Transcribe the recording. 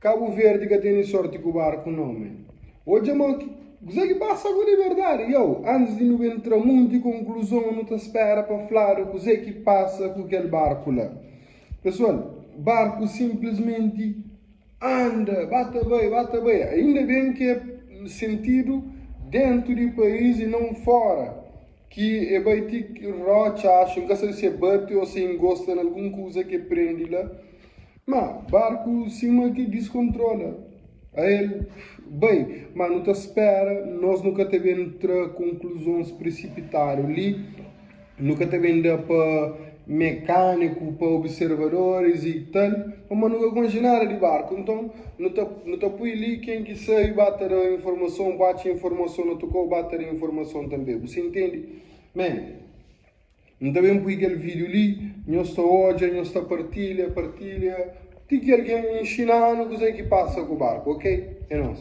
Kabu Verdi ka tene sorti ku barku nau men. Odja ma kuzê ki pasa ku di berdadi? Iau, antis di nu ben tra munti konkluzon, nu ta spera pa fladu kuzê ki pasa ku kel barku la. Pesoal, barku sinplismenti anda, ba ta bai, ba ta bai. Ainda ben ki é sentidu dentu di pais y non fora, ki e bai ti rotxa, atxa, N ka sabi si e bati o si e ingosta na algun kuza ki e prendi la. Ma barku sima ki diskontrola a el bai. Ma nu ta spera nos nu ka ta ben tra konkluzons presipitadu li, nu ka ta ben da pa mekaniku, pa observadoris y tal, pamó nu ka konxe nada di barku. Nton nu ta nu ta pui li ken ki sabi ba ta da informason, bu atxa informason na tokau ba ta da informason tanbe, bu sta intendi? Men. N ta ben pui kel vídiu li, nhos ta odja, nhos ta partilha, partilha, ti ki algen inxina-nu kuzê ki pasa ku barku, ok? É nos!